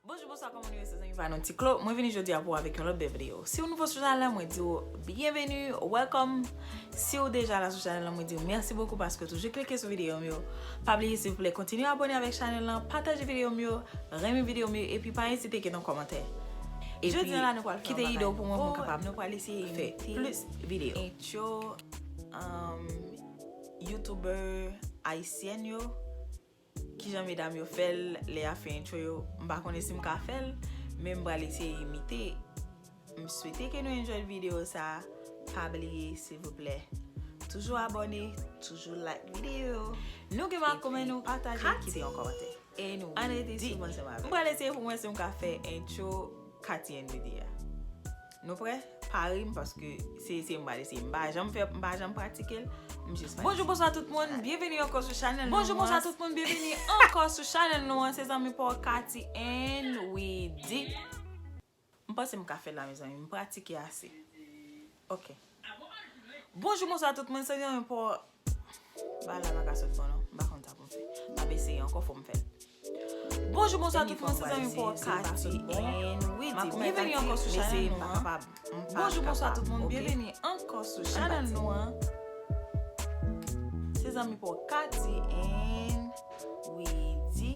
Bonjou, bonswa, kòman nou ye se zanmi pa nou Tiklo Mwen vini jodi a pou avèk yon lòt bèl videyo Si ou nouvo sou chanèl la mwen di ou byenveni, welcome Si ou deja la sou chanèl la mwen di ou mèsi bokou paske ou toujou klike sou videyo m yo Pa bliye silvouplè kontinye abone avèk chanèl la pataje videyo m yo renmen videyo m yo epi pa ezite kite yon kòmantè Jodi a la nou pral fè yon bagay Kite ide w pou mwen pou m kapab Nou pral eseye fè plis videyo Intro Youtuber Ayisyèn yo. Kijan medam yo fèl lè yap fè intro yo m pa konnen sim ka fèl men m pral eseye imite m swete ke nou enjoy video sa pa bliye silvouplè toujou abòne toujou like video yo nou gen ma komen nou pataje nou kite yon kòmantè e nou anrete sou m ansanm avèm m pral eseye poum wè sim ka fè intro Katie and Widy a. Nou prè? Pa ri m paske se eseye m pa eseye. M pa janm fè, m pa janm pratike l. M jis pa. Bonjou bonswa tout moun, byenveni ankò sou chanèl nou an. Bonjou bonswa tout moun, byenveni ankò sou chanèl nou an. Se zanmi pa w Katy and Widy. M panse m ka fè l la mezanmi, m pratike ase. Ok. Bonjou bonswa tout moun, se zanmi pa w Bagay la pa ka sot bon non. M pa konn sa pou m fè. M ap eseye ankò fò m fè l. Bonjou bonswa tout moun se zanmi pou Okap and Wi di byenveni ankò sou chanèl nou an Bonjou bonswa tout moun byenveni ankò sou chanèl nou an Se zanmi pou Okap and Wi di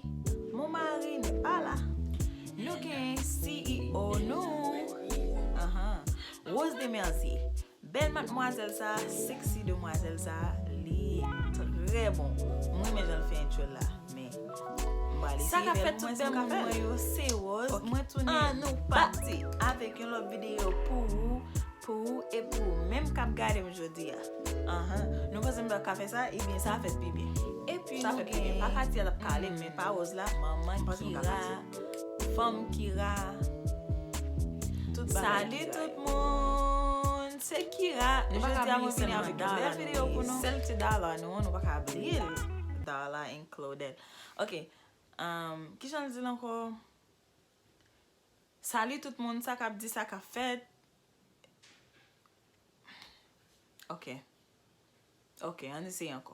Mon mari ne pa la Nou gen CEO nou Rose Demerzier Bèl matmwazèl sa sexy demwazèl sa li trè bon m renmen janl fè entyol la men m pral eseye Sa kap fèt tout bèm moun mwen yo se Rose mwen tounen an nou pati avèk yon lòt videyo pou ou pou ou e pou ou menm kap gadem jodi a anhan nou panse m pat ka fè sa ebyen sa fèt pi byen epi nou gen sa fèt pi byen pa Katia lap kale men pa Rose la manman Kira. Fanm Kira Salut tout moun Se Kira Jodi a mwen vini avèk yon bèl video pou nou Sèl ti Darla nou an nou pa ka bliye l Darla and Claudette Ok Kijan l di l ankò Salut tout moun sa kap di sa kap fèt Ok Ok an n eseye ankò.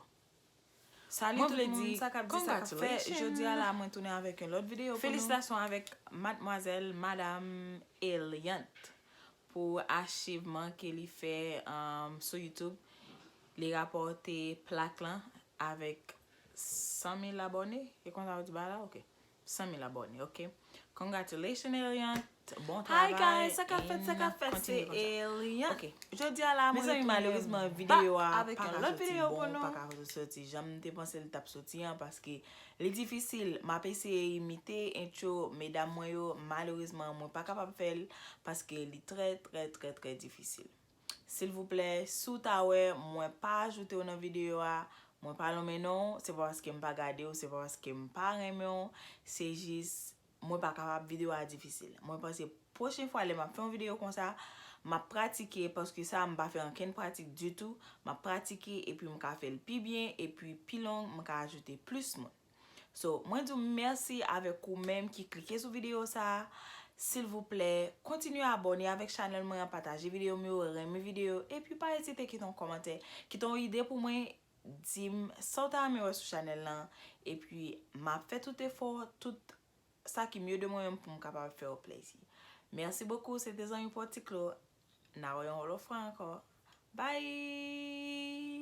Salut tout moun sa kap di sa kap fèt jodia la mwen tounen avèk yon lòt video pou nou felisitasyon avèk madmwazèl madam Eliante pou achivman ke li fè sou youtube li rapòte plak lan avèk 100 mil abòne se konsa ou di bagay la ok 100 mil abòne ok congratulations Eliant bon travay hi guys sa kap fèt sa kap fèt se Eliant jodi a la mwen retounen malerezman video a paka soti bon paka soti janm te panse li tap soti an paske li difisil map eseye imite entcho medam mwen yo malerezman mwen pa kapab fèl paske li trè trè trè trè difisil. Silvouplè si w ta wè mwen pa ajoute w nan videyo a, mwen pa lonmen non w, se pa paske m pa gade w, se pa paske m pa renmen w, se jis mwen pa kapab videyo a difisil. Mwen panse pwochen fwa lè m ap fè yon videyo konsa, m ap pratike paske sa m pa fè ankenn pratik ditou, m ap pratike epi m ka fè l pi byen epi pi long m ka ajoute plis moun. So mwen di w mèsi avèk ou menm ki klike sou videyo sa a. Silvouplè, kontinye abòne avèk chanèl mwen an, pataje videyo m yo, renmen videyo yo, epi pa ezite kite yon kòmantè, kite yon ide pou mwen, di m sa w ta renmen wè sou chanèl lan, epi m ap fè tout efò, tout sa ki mye de mwen menm pou m kapab fè w plezi. Mèsi bokou, se te zanmi pou w Tiklo. N a wè yon lòt fwa ankò. Bye!